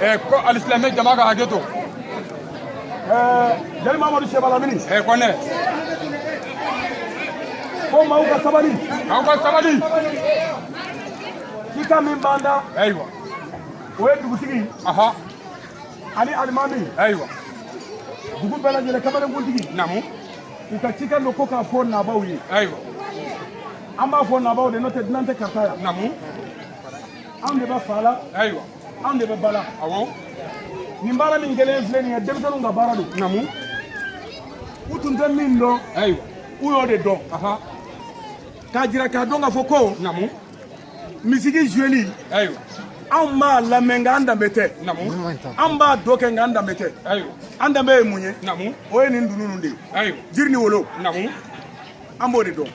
Eh, ko alisilame jama ka hakɛ to eh, jeli mamadu seba lamini eh, kɔnɛ ko maaw ka sabali maaw ka sabali cikan min b'an da ayiwa o ye dugutigi ani alimami ayiwa dugu bɛɛ lajɛlen kamalenkuntigi namu u ka cikan don ko k'a fɔ nabaaw ye ayiwa an b'a fɔ nabaaw de n'o tɛ dunan tɛ karata yan namu anw de bɛ fa la ayiwa anw de bɛ ba la awɔ nin baara min kɛlen filɛ nin ye denmisɛnninw ka baara don namu u tun tɛ min dɔn ayiwa u y'o de dɔn k'a jira k'a dɔn k'a fɔ ko namu misiki zueli ayiwa anw b'a lamɛn nka an danbe tɛ an b'a dɔ kɛ nka an danbe tɛ an danbe ye mun ye o ye nin dununu de ye jiri ni wolo an b'o de dɔn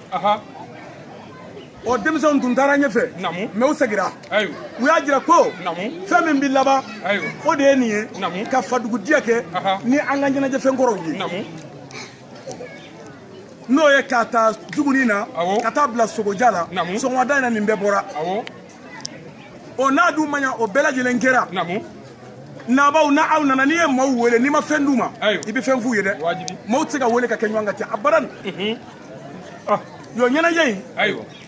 ɔ denmisɛnw tun taara ɲɛfɛ mɛ u segira u y'a jira ko fɛn min bɛ laban o de ye nin ye ka fadugu diya kɛ ni an ka ɲɛnajɛfɛn kɔrɔw ye n'o ye k'a ta juguni na ka taa bila sogoja la sɔgɔmada in na nin bɛɛ bɔra o n'a dun man ɲa o bɛɛ lajɛlen kɛra nabaaw na aw nana n'i ye maaw wele n'i ma fɛn d'u ma i bɛ fɛn f'u ye dɛ maaw tɛ se ka wele ka kɛ ɲɔgɔn ka ca abadan mhm. ah. yɔ ɲɛnajɛ in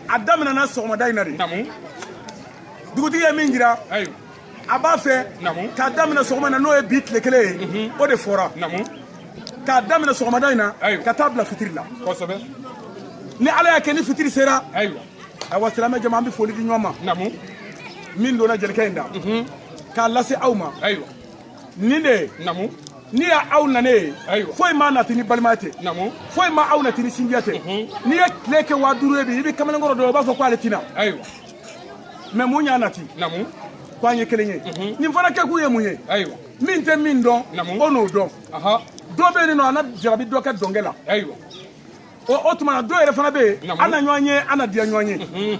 a daminɛna sɔgɔmada in na de dugutigi ye min jira a b'a fɛ k'a daminɛ sɔgɔma na n'o ye bi tile kelen ye o de fɔra k'a daminɛ sɔgɔmada in na ka taa bila fitiri la ni ala y'a kɛ ni fitiri sera ayiwa silamɛ jama an bɛ foli di ɲɔgɔn ma min donna jelikɛ in da k'a lase aw ma nin de ye n'i y'a aw nanen ye foyi m'a nati ni balimaya tɛ foyi ma aw nati ni sinjiya tɛ n'i ye tile kɛ waa duuru ye bi i bɛ kamalenkɔrɔ dɔn i b'a fɔ ko ale tɛ na mɛ mun y'a nati ko an ye kelen ye mhm. nin fana kɛkun ye mun ye min tɛ min dɔn o n'o dɔn dɔ bɛ yen nɔ a na jarabi dɔ ka dɔnkɛ la o tuma na dɔ yɛrɛ fana bɛ yen an na ɲɔgɔn ye an na diya ɲɔgɔn ye mhm.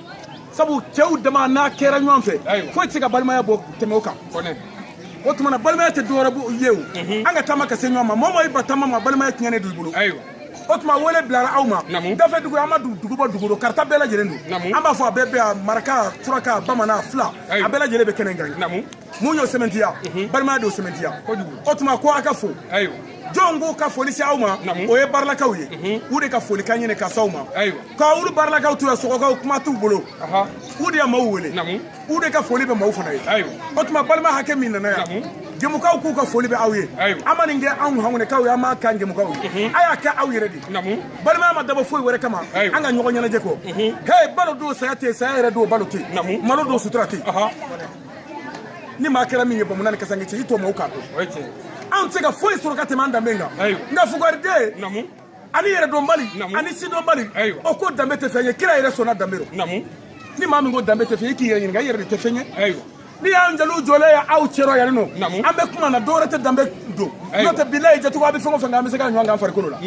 sabu cɛw dama n'a kɛra ɲɔgɔn fɛ foyi tɛ se ka balimaya bɔ tɛmɛ o kan o tuma na balimaya tɛ dɔwɛrɛ ye o mhm. an ka taama ka se ɲɔgɔn ma mɔgɔ o mɔgɔ y'i ban taama ma balimaya tiɲɛnen don i bolo o tuma wele bilara aw ma dafɛdugu an ma dugu bɔ dugu dɔ karata bɛɛ lajɛlen don an b'a fɔ a bɛɛ bɛ a maraka suraka bamanan fila a bɛɛ lajɛlen bɛ kɛnɛ kan mun y'o sɛmɛntiya mhm. balimaya de y'o sɛmɛntiya o tuma ko a ka fo jɔn ko ka foli se aw ma o ye barilakaw ye mhm. u de ka foli kan ɲini ka s'aw ma ka olu barilakaw to yan sɔgɔkaw kuma t'u bolo u de ya maaw wele u de ka foli bɛ maaw fana ye o tuma balima hakɛ min nana yan gɛmukaw k'u ka foli bɛ aw ye a ma nin kɛ anw hangunɛkaw ye a m'a k'an gɛmukaw ye a y'a kɛ aw yɛrɛ de balimaya ma dabɔ foyi wɛrɛ kama an ka ɲɔgɔn ɲɛnajɛ kɔ he balo don saya tɛ saya yɛrɛ don balo tɛ malo don sutura tɛ ni maa kɛra min ye bamanan ni kasange cɛ i to maaw k'a dɔn anw tɛ se ka foyi sɔrɔ ka tɛmɛ an danbe kan nka fugariden ani yɛrɛdɔnbali ani sidɔnbali o ko danbe tɛ fɛn ye kira yɛrɛ sɔnna danbe rɔ ni maa min ko danbe tɛ fɛn ye i k'i yɛrɛ ɲininka i yɛrɛ de tɛ fɛn ye n'i y'an jeliw jɔlen ye aw cɛrɔ yan nin nɔ an bɛ kuma na dɔwɛrɛ tɛ danbe don n'o tɛ bilayi jɛcogo a bɛ fɛn o fɛn kɛ an bɛ se k'a ɲɔgɔn k'an farikolo la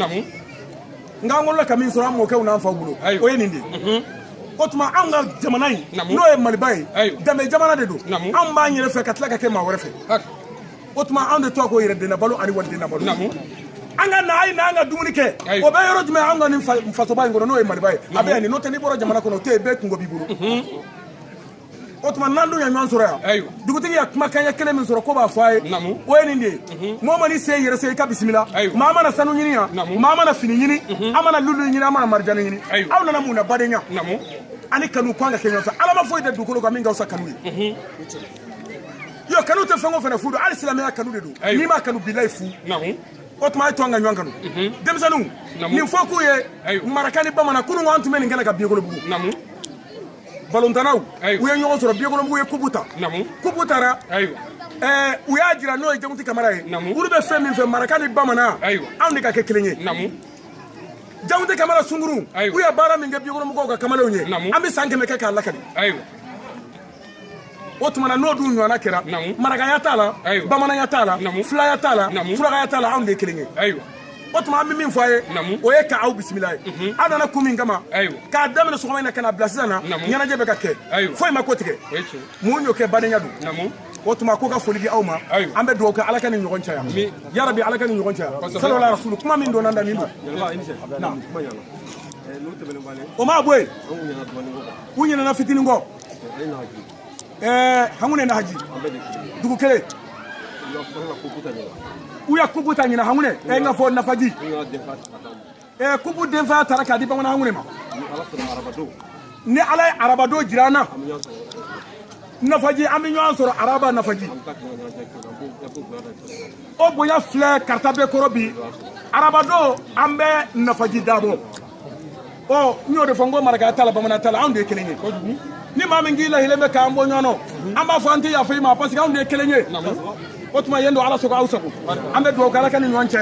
nka an wolola ka min sɔrɔ an mɔkɛw n'an faw bolo o ye nin de ye o tuma anw ka jamana in n'o ye maliba ye danbe jamana de don anw b'an yɛrɛ fɛ ka tila ka kɛ maa wɛrɛ fɛ o tuma anw de tɔgɔ ko yɛrɛden nabalo ani waliden nabalo an ka na a ye na an ka dumuni kɛ o bɛ yɔrɔ jumɛn an ka nin fasoba in kɔnɔ n'o ye maliba ye a bɛ yan nin n'o tɛ n'i bɔra jamana kɔnɔ o tɛ yen bɛɛ kunko b'i bolo o tuma n'an dun ye ɲɔgɔn sɔrɔ yan dugutigi ye kumakan ɲɛ kelen min sɔrɔ ko b'a fɔ a ye o ye nin de ye mɔgɔ mana i sen yɛrɛ se i k'a bisimila maa ma na sanu ɲini yan maa ma na fini ɲini a ma na lulu ɲini a ma na marijani ɲini aw nana mun na badenya ani kanu k'an ka kɛ ɲɔgɔn fɛ ala ma foyi da dugukolo kan min ka fisa kanu ye yo kanu tɛ fɛn o fɛn na fu don hali silamɛya kanu de don n'i m'a kanu bilayi fu o tuma a ye to an ka ɲɔgɔn kanu mhm. denmisɛnninw nin fɔ k'u ye maraka ni bamanan kunun ko an tun bɛ nin kɛnɛ kan biyekolobugu balontannaw u ye ɲɔgɔn sɔrɔ biyekolobugu ye kupu ta kupu taara ɛɛ u y'a jira n'o ye jamuti kamara ye olu bɛ fɛn min fɛ maraka ni bamanan anw de ka kɛ kelen ye jamuti kamara sunkurun u ye baara min kɛ biyekolobugukaw ka kamalenw ye an bɛ san kɛmɛ kɛ k'a lakali o tuma na n'o dun ɲɔgɔnna kɛra marakaya t'a la bamananya t'a la filaya t'a la surakaya t'a la anw de ye kelen ye o tuma an bɛ min fɔ a ye o ye ka aw bisimila ye mhm. aw nana kun min kama k'a daminɛ sɔgɔma in na ka na bila sisan na ɲɛnajɛ bɛ ka kɛ foyi m'a kɔtigɛ mun y'o kɛ badenya don o tuma k'u ka foli di aw ma an bɛ dugawu kɛ ala ka ni ɲɔgɔn caya yarabi ala ka ni ɲɔgɔn caya salawala rasulu kuma min donna da nin don o ma bɔ yen u ɲinɛna fitinin kɔ Eh, hangune nahaji dugu kelen u ye kupu ta ɲina hangune e eh, n k'a fɔ nafaji e eh, kupu denfa taara k'a di bamanan hangune ma ni ala ye arabadon jira an na nafaji an bɛ ɲɔgɔn sɔrɔ araba nafaji o bonya filɛ kaarta bɛɛ kɔrɔ bi arabadon an bɛ nafaji dabɔ ɔ n y'o de fɔ n ko marakaya t'a la bamananya t'a la anw de ye kelen ye ni maa min k'i lahilen bɛ k'an bɔ ɲɔgɔn na an b'a fɔ an tɛ yafa i ma parce que anw de ye kelen ye o tuma yen don ala sago aw sago an bɛ dugawu kɛ ala ka ni ɲɔgɔn caya